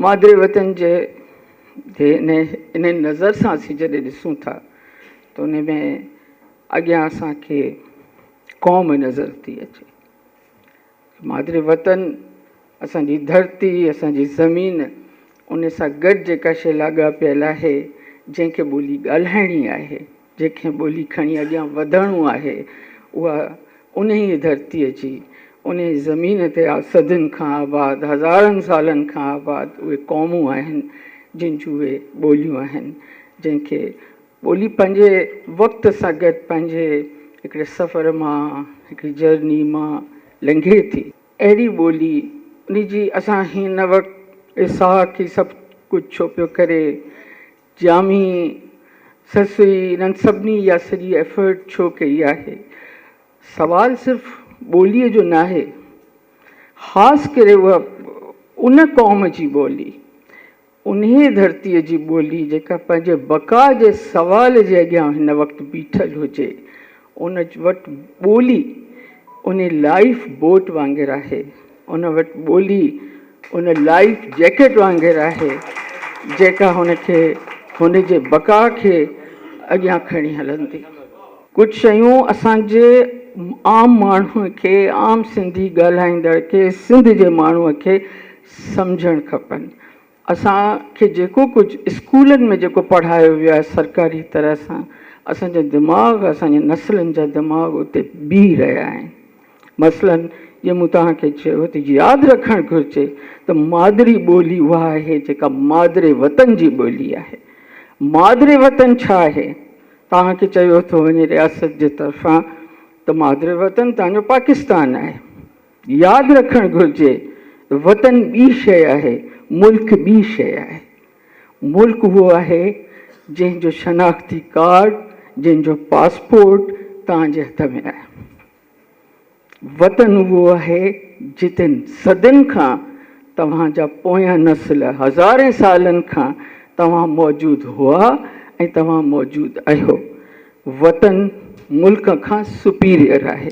مادري وطن جي انهي نظر سان اسين جڏهن ڏسون ٿا ته انهي ۾ اڳيان اسان کي قوم نظر ٿي اچي. مادري وطن اسان جي ڌرتي، اسان جي زمين انهي سان گڏ جيڪا شيء لاڳاپيل آهي، جنهن کي ٻولي ڳالهائڻي آهي، جنهن کي ٻولي کڻي اڳيان وڌڻو آهي، اها انهيء ڌرتيء جي، انهيء زمين تي صدين کان آباد، هزارن سالن کان آباد اهي قومون آهن، جن جون اهي ٻوليون آهن، جنهن کي ٻولي پنهنجي وقت سان گڏ پنهنجي هڪڙي سفر مان، هڪڙي جرني مان لنگهي ٿي. اهڙي ٻولي، انهيء جي اسان هن وقت، اسحاق هي سڀ ڪجهه ڇو پيو ڪري، جامي سرسري انهن سڀني اها سڄي ايفرٽ ڇو ڪئي آهي؟ سوال صرف ٻوليء جو ناهي، خاص ڪري اها ان قوم جي ٻولي، انهيء ڌرتيء جي ٻولي جيڪا پنهنجي بقا جي سوال جي اڳيان هن وقت بيٺل هجي، ان وٽ ٻولي ان لائيف بوٽ وانگر آهي، ان وٽ ٻولي ان لائيف جيڪٽ وانگر آهي، جيڪا هن کي هن جي بقا کي اڳيان کڻي هلندي. ڪجهه شيون اسان جي عام ماڻهو کي، عام سنڌي ڳالهائيندڙ کي، سنڌ جي ماڻهو کي سمجهڻ کپن. اسان کي جيڪو ڪجهه اسڪولن ۾ جيڪو پڙهايو ويو آهي سرڪاري طرح سان اسان جا دماغ اسان جي نسلن جا دماغ اتي بيهي رهيا آهن مثلاً جيئن مون توهان کي چيو ته ياد رکڻ گهرجي ته مادري ٻولي اها آهي جيڪا مادري وطن جي ٻولي آهي مادري وطن ڇا آهي توهان کي چيو ٿو وڃي رياست جي طرفان ته مادري وطن توهان جو پاڪستان آهي ياد رکڻ گهرجي وطن ٻي شيء آهي، ملڪ ٻي شيء آهي. ملڪ اهو آهي جنهن جو شناختي ڪارڊ، جنهن جو پاسپورٽ توهان جي هٿ ۾ آهي. وطن اهو آهي جتن صدين کان توهان جا پويان نسل، هزارين سالن کان توهان موجود هئا ۽ توهان موجود اهيو. وطن ملڪ کان سپيريئر آهي.